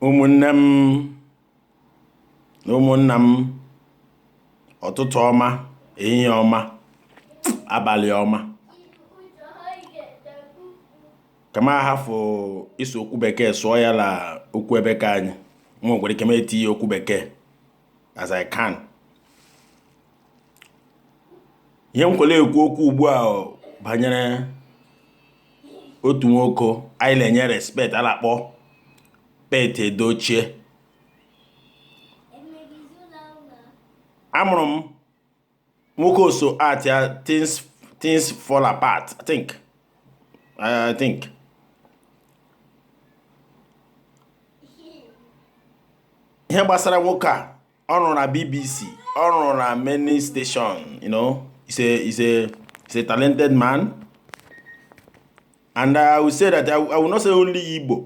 ụmụnne m na ụmụnna m ụtụtụ ọma ehihie ọma abalị ọma ka m hafụ ịsụ okwu bekee sụọ ya la okwu ebe ke anyị nwa nwere ike m etinye okwu bekee as I can ihe m kwere ekwu okwu ugbu a banyere otu nwoke anyị na-enye respect a na-akpọ Pete Edochie a mụrụ m nwoke o so act ya things things fall apart i think i think ihe gbasara nwoke a ọ rụrụ na bbc ọ rụrụ na many station you know he's a he's a he's a talented man and i will say that i, I will not say only igbo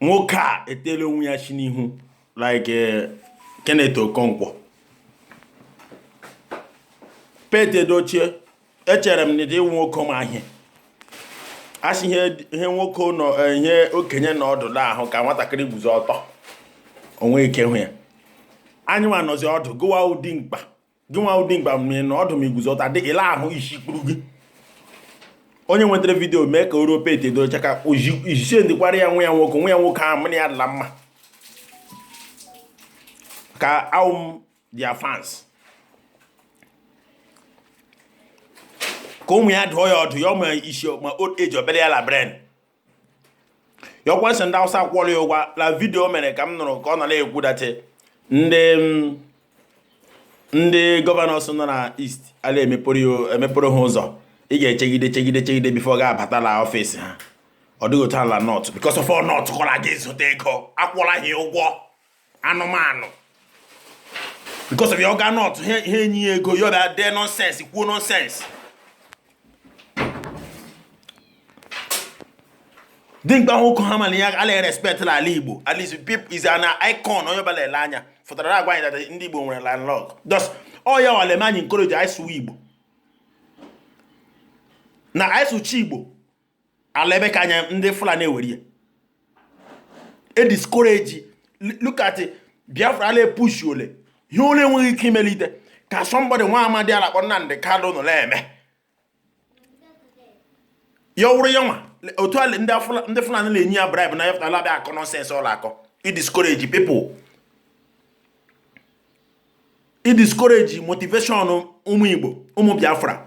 nwoke a etela onwe ya shị n'ihu like eh, Kenneth Okonkwo Pete Edochie echere m na ị wụ nwoke ma ihe a sị ihe nwoke nọ eh, ihe okenye nọ ọdụ la-ahụ ka nwatakịrị guzo ọtọ o nwe ike hụ ya anyị nwa nọzi ọdụ gị nwa wụ dimkpa gị nwa wụ dimkpa ma ị nọ ọdụ ma i guzo ọtọ ọ dịghị ihe ị la-ahụ isi kpuru gị onye nwetara video mee ka o ruo Pete Edochie aka o ji sendikwara ya nwa ya nwoke nwa ya nwoke ahụ mụ na ya dị la mma ka awụ m their fans ka ụmụ ya dụọ ya ọdụ ya ọma isi ma old age ọ bara ya la brain ya wụkwa sị ndị awụsa kwụrụ ya ụgwọ la video o mere ka m nụrụ ka ọ nọ na-ekwu that ndị mm, ndị governors nọ na east a la-emepere ha ụzọ ị ga-echegide chegide chegide before ị ga-abata la office ha ọ dịghị otu a la north because of north ka ọ la-aga zụta ego a kwụọla ha ụgwọ anụmanụ because of ya ọ gaa north e nye ya ego ya abịa dee nonsense kwuo nonsense dimkpa nwoke ha mana ya a la-respect la ala igbo at least people is an icon onye ọbụla ele anya fụtara na-agwa anyị that ndị igbo nwere landlord thus ọ ya wale ma anyị encourage anyị sụwa igbo na anyị sụcha igbo ala ebe ke anyị ndị fulani ewere ya e discourage look at biafra a la-epush o lee ihe ọ la-enweghị ike imelite ka somebody nwa amadi a la-akpọ Nnamdi Kanu nọ na-eme ya wụrụ ya nwa otu ala ndị fulani na-enye ya bribe na ya afụta la-abịa akọ nonsense ọ la-akọ i discourage people i discourage motivation ụmụ igbo ụmụ biafra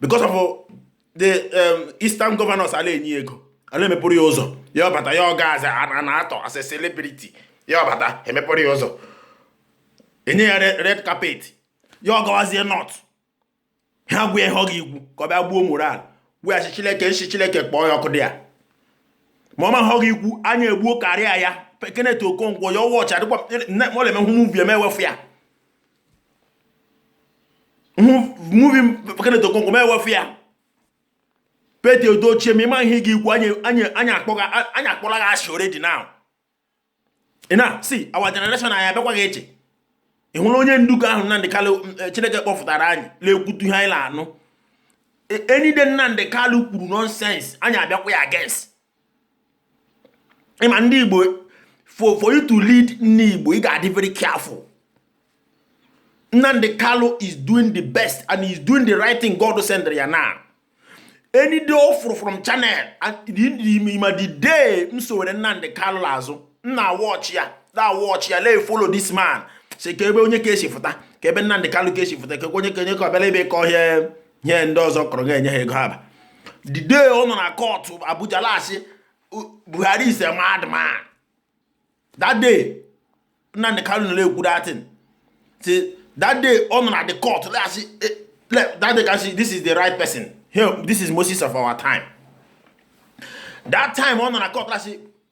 because of uh, the um, eastern governors a la-enye ego a la-emepụrụ ya ụzọ ya ọbata ya ọga aza a na-atọ as a celebrity ya ọbata emepụrụ ya ụzọ e nye ya red carpet ya ọgawazie North ha gwa ya ihe ọ ga-ekwu ka ọ bịa gbuo morale weghachi chileke nshi chileke kpọọ ya ọkụ there ma ọ ma ihe ọ ga-ekwu anyị egbuo career ya Kenneth Okonkwo ya ọwọchị adịkwa mọleme hụ movie m ewefu ya movie Kenneth Okonkwo m ewefu ya Pete Edochie ma ị ma ihe ị ga-ekwu anyị akpọla gị asị already now na see our generation anyị abịakwa gị eche ị hụrụ onye nduku ahụ Nnamdi Kalu eh, Chineke kpọfụtara anyị na-ekwutu ihe anyị na-anụ any day Nnamdi Kalu kwuru nonsense anyị abịakwa ya against ị ma ndị Igbo for for you to lead ndị Igbo ị ga-adị very careful Nnamdi Kalu is doing the best and he is doing the right thing God send ya now any day ọ fụrụ from channel and ma the day m sowere Nnamdi Kalu azụ m na-watch ya na-watch ya la-follow this man see ka ebe onye ka esi fụta ka ebe Nnamdi Kalu ka esi fụta ka onye ka onye ka ọbịala ebe ka ọhịa nye ndị ọzọ kọrọ ga-enye ha ego aba the day ọ nọ na court Abuja la-asị Buhari is a madman that day Nnamdi Kanu nọ na-ekwu that thing see that day ọ nọ na the court la-asị eh, that day ka m sị this is the right person here this is Moses of our time that time ọ nọ na court la-asị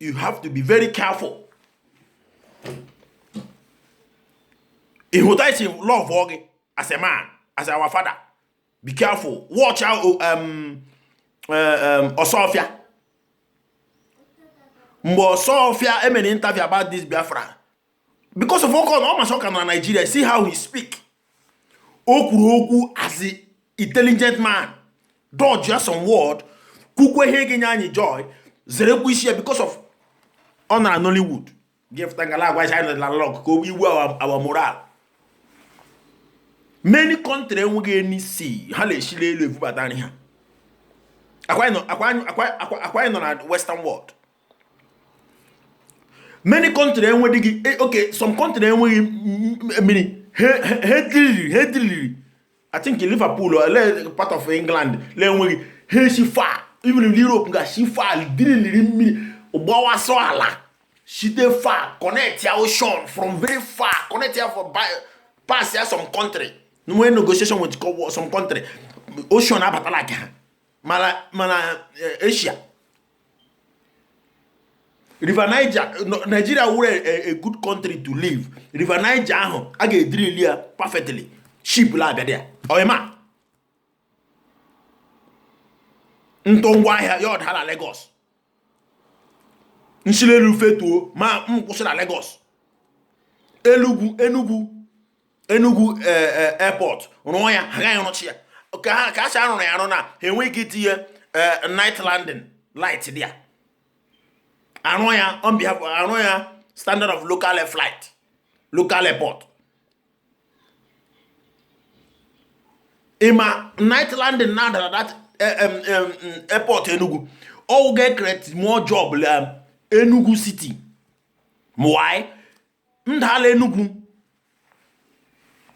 you have to be very careful ịhụta isi love gị as a man as our father be careful watch out oh, um, uh, um, ọsọfịa mgbe ọsọfịa emere interview about this biafra because of ọkọ na ọ ma sị ọ ka nọ na Nigeria see how he speak o kwuru okwu as a intelligent man dodge ya some word kwukwa ihe ga-enye anyị joy zerekwa isi ya because of ọ nọ na Nollywood gefụta ngala agwa China na lọk ka o gbuo our morale many country enweghị any sea ha na-esili elu ebubata nri ha ọkwa anyị nọ na western world many country enwedịghị eh, okay some country enweghị mmiri ha drilliri ha drilliri I think Liverpool or eh, part of England la-enweghị ha si far even in Europe ga si far drilliri mmiri gbawasọ ala site far connect ya ocean from very far connect ya for by pass ya some country nwee negotiation with some country ocean abatala ka ha ma na ma na eh, Asia River Niger Nigeria were a, a good country to live River Niger ahụ a ga-edrill ya perfectly ship la-abịa there ọyịma m tụọ ngwa ahịa ya ọda na Lagos m si l'elu fetuo ma m kwụsị na Lagos Enugu Enugu Enugu e, e, airport rụọ ya ha gaghị arụcha ya ka a sị arụrụ ya arụ na ha enweghị ike itinye e, night landing light there arụ ya on behalf arụ ya standard of local air flight local airport ị ma night landing na-adara that airport Enugu ọ ga-ecreate more job Enugu city why ndala Enugu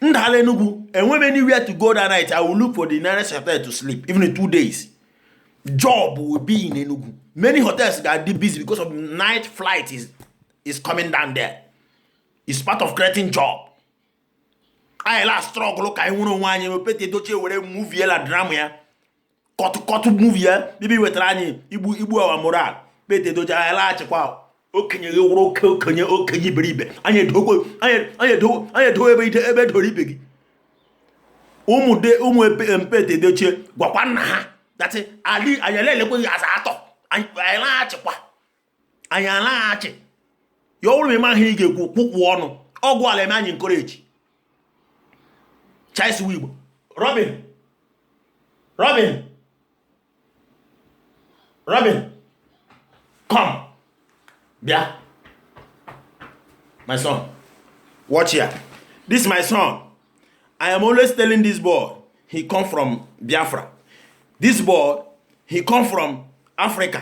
ndala Enugu enweghị m anywhere to go that night i will look for the nearest hotel to sleep even in two days job will be in Enugu many hotels ga-adị busy because of night flight is, is coming down there is part of creating job anyị la-astruggle ka anyị nwere onwe anyị Pete Edochie were movie la drama ya cut cut movie ya bibi wetara anyị igbu igbu our morale Pete Edochie anyị alaghị achịkwa okenye gị wụrụ oke okenye okenye iberibe anyị edowe ebe ide ebe e doro ibe gị ụmụ de ụmụ Pete Edochie gwakwa nna ha that ali anyị elekweghị asa atọ anyị alaghị achịkwa anyị alaghị achị ya ọ bụrụ ma ị maghị ihe ị ga-ekwu kwụkwụ ọnụ ọgwụ ala eme anyị encourage chaisu igbo robin robin robin come bịa my son watch here this my son i am always telling this boy he come from biafra this boy he come from africa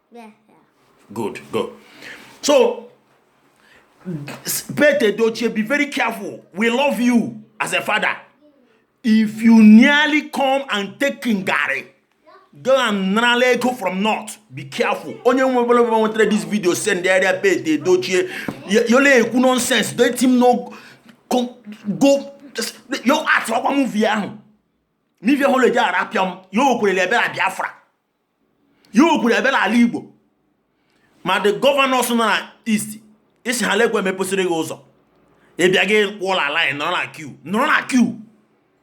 good go so Pete Edochie be very careful we love you as a father if you nearly come and take garri go and narala ego from north be careful onye ọbụla ọbụla nwetara this video sendịara Pete Edochie ya ọ la-ekwu nonsense let him know go go yo art ọkwa movie ahụ movie ahụ e ji arapịa m ya okwerele ebere biafra ya o kwuru abịa n'ala Igbo ma the governors nọ na east isi ha lekwe mepụsịrị gị ụzọ ị bịa gị kwụọ la line nọrọ na queue nọrọ na queue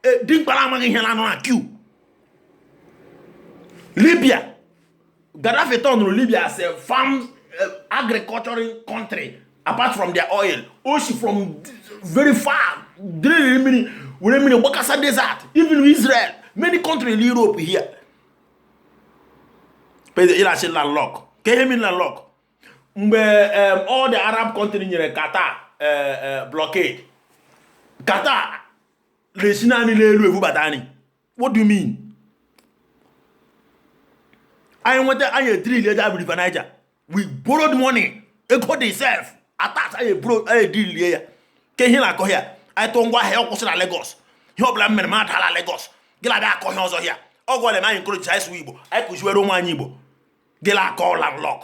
e, dimkpara amaghị ihe na nọ na queue Libya Gaddafi turnụrụ Libya as a farm eh, agricultural country apart from their oil o si from very far drill mmiri were mmiri gbakasa desert even Israel many countries in Europe here ị la-asị landlock ka ihe mi landlock mgbe all the Arab country nyere Qatar e, e, blockade Qatar na-esi naanị n'elu ebubata nri what do you mean anyị nweta anyị edrill eji abụ River Niger we borrowed money ego dị sef at last anyị eburo anyị edilie ya ke ihe na-akọ ya anyị tụọ ngwa ahịa ọkwụsị na Lagos ihe ọbụla m mere m adala Lagos gị na-abịa akọ ihe ọzọ ya ọ gwara m encourage anyị sụwa Igbo anyị kụziwere ụmụ anyị Igbo gị na-akọ landlord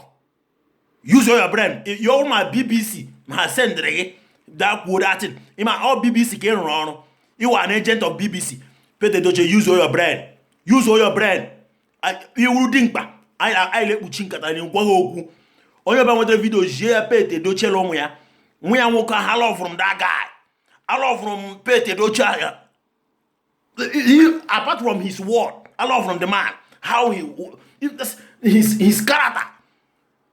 use your brain your ụma BBC ma sendịrị gị daa kwuo that thing ị ma ọ BBC ka ị rụrụ ọrụ you are an agent of BBC Peter Edochie use your brain use your brain ị wụ dimkpa anyị na-ekpuchi nkata na gwa ha okwu onye ọbụla nweta vidio zie ya pete edochie la ụmụ ya nwa ya nwoke ahụ alọvụrụ m that guy alọvụrụ m pete edochie apart from his word alọvụrụ m the man how he his his character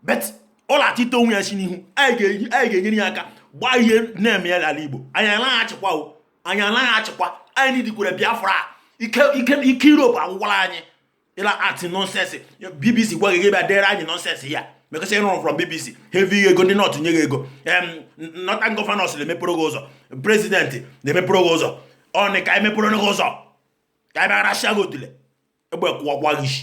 but ọ na-achịta onwe ya si n'ihu anyị ga-enyere ya aka gbaa ihe na-eme ya n'ala Igbo anyị anaghị achịkwa o anyị anaghị achịkwa anyị nidikwere Biafra ike ike ike Europe agwụkwala anyị ị la-act nonsense BBC gwa gị gị bịa dere anyị nonsense ya because ị rụrụ from bbc heavy ego ndị north nye gị ego northern governors na-emepere gị ụzọ president na-emepere gị ụzọ ọnị ka emepere gị ụzọ ka anyị bịa rachaa gị otule egbe kụwakwa gị isi